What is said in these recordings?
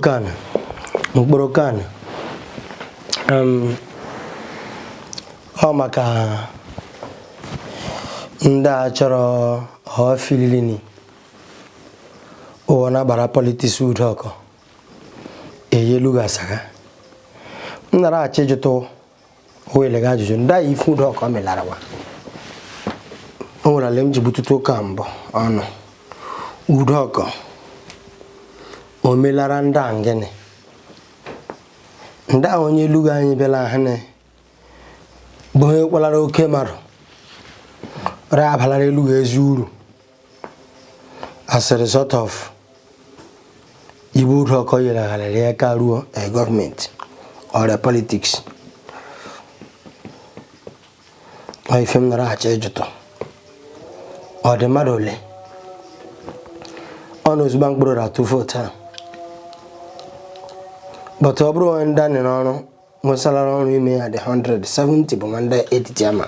Kana Nkporo kana ọ maka ndị a chọrọ ọfilini ụwa na-agbara politics Ude Oko onye Elughu asaga m nara achọ ịjụtụ Elughu ajụjụ ndị a ife Ude Oko melara wa o nwere ala m ji butụta ụka mbụ ọnụ Ude Oko o melara ndị a ngịnị ndị a onye Elughu anyị bịala ha na bụ onye kalara oke mmadụ ra abalara Elughu ezi uru as a result of ibe Ude Oko yere agharịrị ya aka ruo eh, government or politics ọ ife m nara achọ ịjụtụ ọ dị mmadụ ole ọ na ozugbo Nkporo atụ vote a but ọ bụrụ onye ndị anyị n'ọrụ nwesalara ọrụ ime ya dị 170 bụ wa ndị Etitiama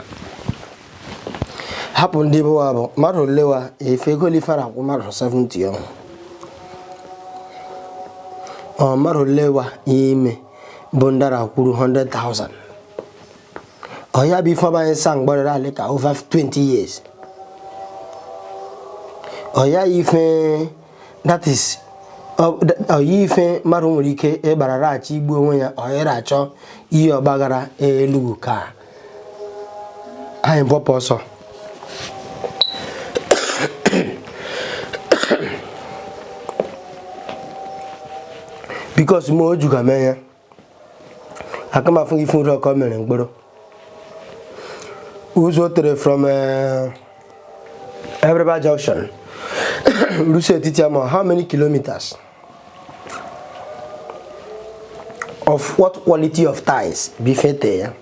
hapụ ndị bụ wa bụ mmadụ ole wa efe ego lifara akwụ mmadụ 70 ọ mmadụ ole wa ime bụ ndara kwuru 100,000 ọ ya bụ ife ọ bụ anyị sa mgbarịrị alị ka over 20 years ọ ya ife that is ọ ya ife mmadụ nwere ike ịgbarara achọ igbu onwe ya onye ra achọ ihe ọ gbaghara Elughu ka anyị bọpụ ọsọ because ma o juga mee ya aka m afụ ife Ude Oko mere Nkporo ụzọ o tere from eh, Abiriba junction rusi Etitiama how many kilometers of what quality of ties bifete ya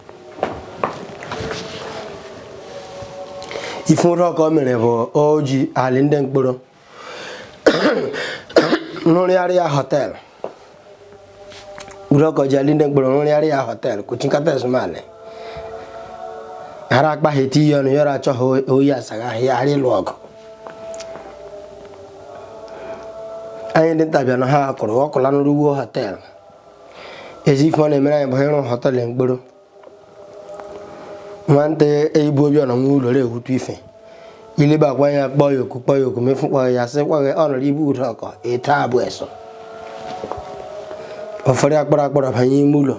ife Ude Oko mere bụ o ji ali ndị Nkporo nrụrịarịa hotel Ude Oko ji ali ndị Nkporo nrụrịarịa hotel kuchinkata ezumale hara akpa ha eti ihe ọnụ yọrọ achọ ha oyi asaghị ahịa ghara ịlụ ọgụ anyị ndị ntabịa na ha kụrụ ọkụla nrụwuo hotel ezi ife ọ na-emere anyị bụ ịrụ hotel Nkporo nwantị eyibu obi ọnọ nwa ụlọ ehutu ife ilibe akwa ya kpọọ ya oku kpọọ ya oku mefu kpọọ ya sị kwaghị ọnọrọ ibu ude oko eto abụ eso ọfụrụ akpọrọ akpọrọ banye ime ụlọ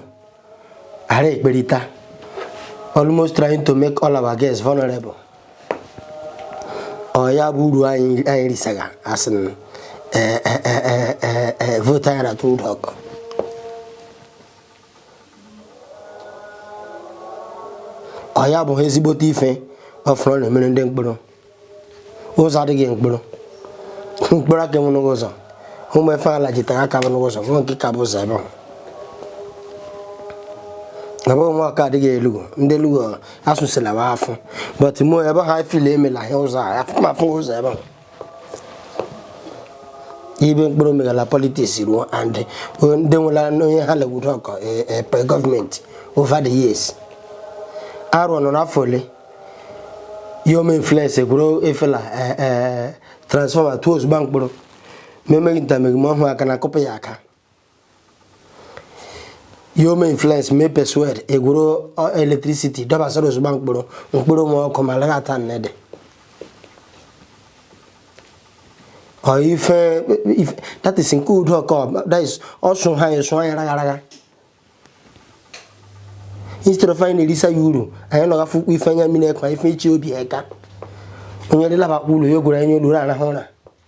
ara ekperita almost trying to make all our girls vulnerable ọ ya bụ uru anyị anyị risaga as in ee ee ee ee ee vote a ra-atụ ude oko ọ ya bụ ezigbote ife ọfụrụ na-emere ndị nkporo ụzọ adịghị nkporo nkporo aka enwenụghụ ụzọ ụmụ efe ala jitara aka bụnụghụ ụzọ nwa nke ka bụ ụzọ ebe ahụ na bụ nwa ọka adịghị elughu ndị elughu asụsịla afụ but mụ ebe ha fili emela ahịa ụzọ a afụ ụzọ ebe ahụ ibe nkporo megala politics ruo and ndị nwela onye ha le ude oko epe e, government over the years arụ nọ n'afọ ole ya eme influence egwuru efela e, e, transformer tuo ozugbo nkporo ma emeghị ntameghi ma ọhụụ aka na akụpụ ya aka ya eme influence mee persuade egwuru electricity dọbasara ozugbo nkporo nkporo nwe ọkụ ma lagha ata nnede ọ ife ife- that is nke ude oko that is ọsụ ha esụ anyị ragha ragha instead of anyị na-erisa ya uru anyị nọga afụkwụ ife anya mmiri ekwa ife ichi obi eka onye dịlabakwa ụlọ ya gwere anya olu na-arahụ ụra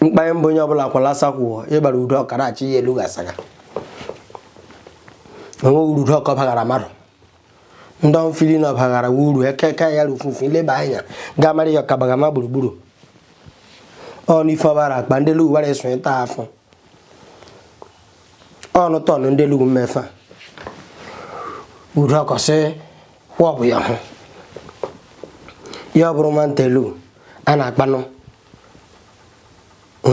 mkpa mbụ onye ọbụla kwalasa kwụọ ịgbara ude oko rachị ya elughu asaga enweghị uru ude oko bagara mmadụ ndị ọ m fili na ọ bagara uru ekeke ya rufufu ileba anya ga-amara ya ọkabagama gburugburu ọnụ ife ọ bara akpa ndị elughu wara eso ịta afọ ọnụ tọnụ ndị elughu mmefa ude oko sị kwa ọ bụ ya hụ ya ọ bụrụ mantelu a na-akpanụ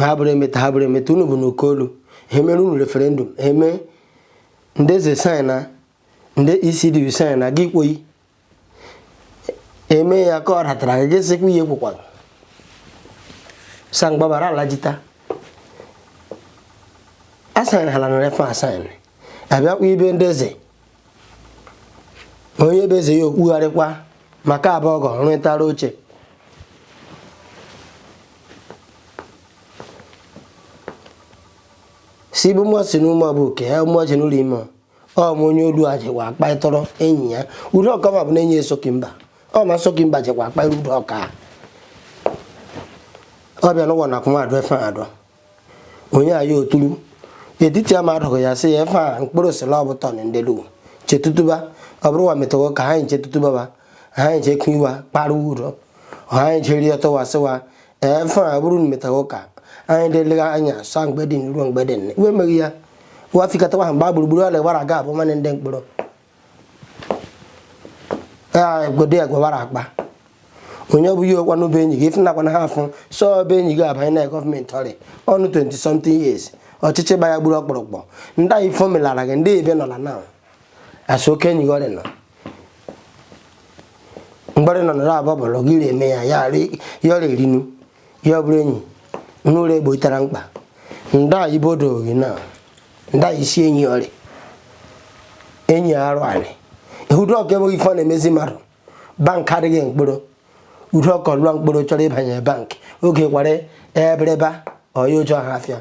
ha bụrụ emeta ha bụrụ emeta unu bụ n'oke olu ha mere unu referendum ha eme ndị eze sign na ndị ECD sign na gị kwoyi eme ya ka ọ ratara gị gị sịkwa ihe kwukwara sangbabara alajita asign ha lanara efe asign abịakwa ibe ndị eze onye bụ eze ya okpugharịkwa maka abụọ ọgọ rụtara oche si bụ mmụọ si n'ụmụ bụ oke ya mmụọ ji n'ụlọ ime ọ ma onye olu a jikwa akpaịtọrọ enyi ya ude oko ma bụ na enyi esoki mba ọ ma soki mba jikwa akpaịrị ude oko ọ bịa n'ụwa na akụ mmadụ efe adọ onye a ya oturu Etitiama adụghị ya sị ya efe a Nkporo sịla ọ bụ turn ndị Elu chetutuba ọ bụrụ wa metawo ka ha anyị chetutuba ba ha anyị chekụ iwa kpara uro ha anyị jeri ọtọwa sịwa efe a bụrụ na metawo ka anyị dịlega anya sa mgbe dị ruo mgbe dị nne iwe meghị ya wafikọtawa ha mba gburugburu ọla gbara aga abụ mmanụ ndị Nkporo godo ya gwawara akpa onye ọbụghị ọkwa n'obe enyi gị ịfụnakwa na ha afụ so ọba enyi gị abanye na gọọmenti ọrị ọ nọ 20 something years ọchịchị gba ya gburu ọkpụrụkpọ ndị anyị fomelara gị ndị ebe nọla na asụ oke enyi gị ọrị nọ mgbọrị nọ nọrọ abụọ bụrụ gị eme ya ya ọrịa erinu ya bụrụ enyi n'ụlọ egbo itara mkpa ndị anyị bodo gị na ndị anyị isi enyi ọrị enyi arụ anyị Ude Oko enweghị ife ọ na-emezi mmadụ bank adịghị Nkporo Ude Oko lụọ Nkporo chọrọ ịbanye bank oge kwara Abiriba ọya o je Ohafia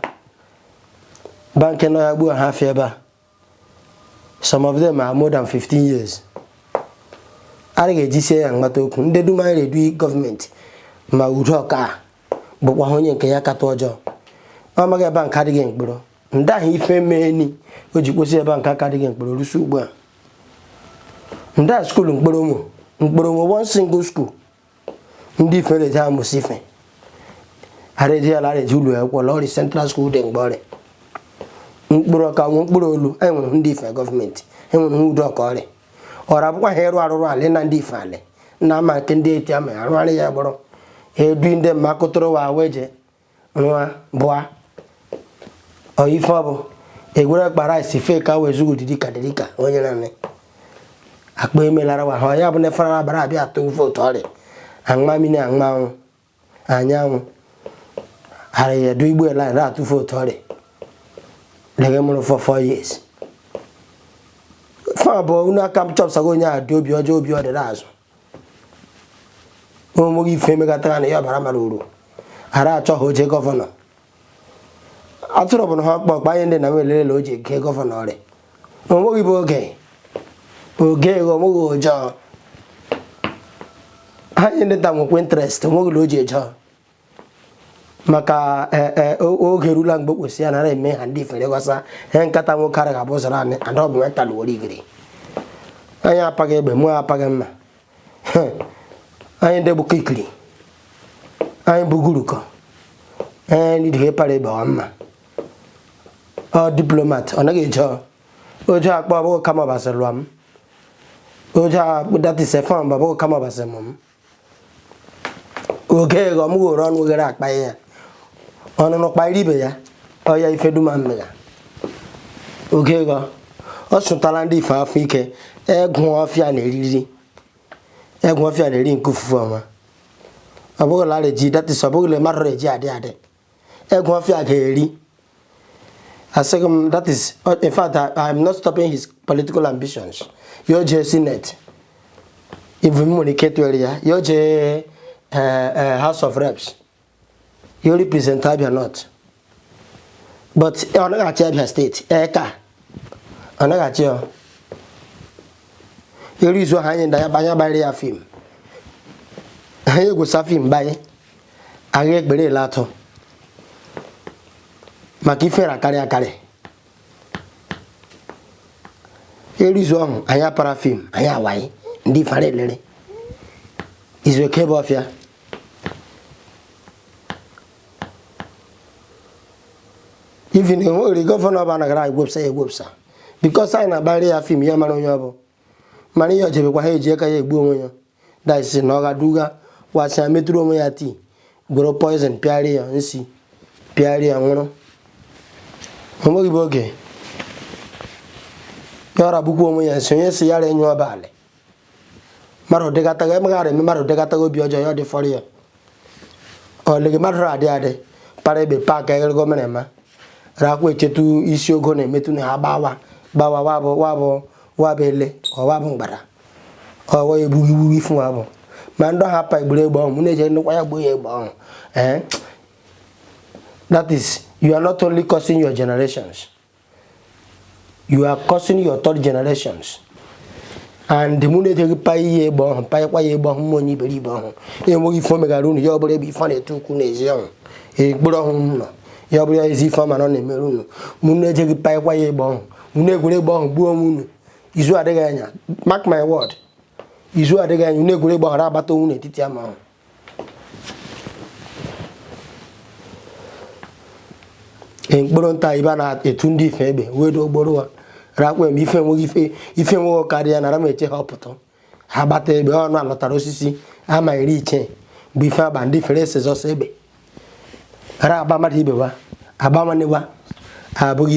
bank nọ ya gbuo Ohafia ebe a some of them are more than 15 years adịghị ejisie ya mkpata okwu ndị dum anyị na-edu gọọmenti ma Ude Oko abụkwa ha onye nke ya kata ọjọọ ọ maghị bank adịghị Nkporo ndị ahụ ife meeni o ji kwụsị bank aka adịghị Nkporo rusi ugbu a ndị a skuulu Nkporo ụmụ Nkporo ụmụ one single school ndị ife eji amụsị ife areji ala areji ụlọ akwụkwọ ọrị central school dị mgbe ọrị Nkporo ka nwe Nkporo olu anyị nwere ndị ife gọọmenti enwere nwa Ude Oko ọrị ọra bụkwa ha ịrụ arụrụ ala na ndị ife ala na ama nke ndị Etitiama arụgharị ya gbọrọ edu ndị mma kụtụrụ wa awa eje nwa bụa ọ ife ọ bụ e gwere akpa rice fee ka wee zugo dịrị ka dịrị ka onye nanị akpa emelara wa ha ya bụ na efere abara abịa atụ vootu ọrị aṅụma mmiri aṅụma anwụ anyanwụ ara ya du igbo line ra atụ vootu ọrị lege mụrụ for four years fa bụ unu aka m chọpụtago onye a dị obi ọjọọ obi ọ dịrị azụ onweghị ife emegatara na ya ọbara mara uru ghara achọ ha oje gọvanọ atụrụ bụ na ha ọkpọ ọkpa anyị ndị na welele o ji eje gọvanọ ọrị onweghị bụ oge oge ego onweghị ojọọ ha nye ndị nta nwekwa interest onweghị na o ji ejọọ maka eh, eh, oge rula mgbe kwesịrị ya nara eme ha ndị ifere ghọsa ihe nkata nwoke ara ga-abụ zara anyị ada ọ bụ nweta na were igiri anyị apaghị egbe mụ apaghị mma anyị ndị bụkọ ikiri anyị bụgurukọ anyị ndị para egbe ọ mma ọ diplomat ọ naghị eje oje akpọ ọbụghị kama Ọbasị lụọ m oje akpụ that is if ọ bụ ọbụghị kama Ọbasị mụ m oge ghọ m ghoro ọnụ ghere akpa ya ọnụnụ kparị ibe ya ọya ife duma mmega oge ghọ ọ sụtara ndị ife afọ ike egụ ọfịa na eriri egwu ọfịa na-eri nke ofufe ọma ọ bụghị lara eji that is ọ bụghị le mmadụ eji adị adị Egwuofia ga-eri asịghị m that is in fact I am not stopping his political ambitions ya o jee senate even nwere ike tụere ya ya o jee house of reps ya o represent Abia North but ọ naghị achị Abia State ee ka ọ naghị achị ya eri izu ahụ anyị na-agbara ya fim anyị egwusa fim banye agha ekpere ele atọ maka ifere akarị akarị erizu ọhụ anyị apara fim anyị awaghị ndị fara elere izu eke bụ ọfịa even enweghịrị gọvanọ ọba anagara egwepsa egwepsa because anyị na-agbara ya fim ya mara onye ọ bụ mana ihe ojebekwa ha eji aka ya egbu onwe ya that is na ọ ga-aduga wa sị ya metụrụ onwe ya tii gworo poison pịarị ya nsi pịarị ya nwụrụ o nweghị bụ oge ya ọra bụkwa onwe ya nsi onye sị ya ra enye ọbalị mmadụ dịgataga emegharị eme mmadụ dịgataga obi ọjọọ ya ọ dịfọrọ ya ọlịghị mmadụ adị adị para egbe paakị eghere gọọmenti eme rakwa echetu isi ogo na-emetụ na ha gbawa gbawa wabụ ele ọwabụ mgbada ọwa egbughị iwu ifu wabụ ma ndị ọha pa egburu egbe ọhụ mụ na-eje ndịkwa ya gbuo ya egbe ọhụ ee eh? that is you are not only cursing your generations you are cursing your third generations and ma unu ejeghị pa ihe egbe ọhụ panyekwa ya egbe ọhụ ma onye iberibe ọhụ enweghị ife o megara unu ya bụrụ ife na-ete ukwu n'ezi ọhụ mkpụrụ ọhụ unu ya bụrụ ezi ife ọma na ọ na-emere unu ma unu ejeghị panyekwa ya egbe ọhụ unu egwere egbe ọhụ gbuo onwe unu izu adịghị anya mark my word izu adịghị anya unu egwere egbe ọhụ ra agbata onwe unu n'etiti ama ọhụ mkpụrụ nta ibe na-etu ndị ife egbe wee do ogboro ha rakwa m ife nwe karịa nara m eche ha ọpụta ha gbata egbe ọnụ alọtara osisi ama iri iche bụ ife agba ndị fere ese sọsọ egbe ara agba mmadụ ibe wa agba nwanne wa abụghị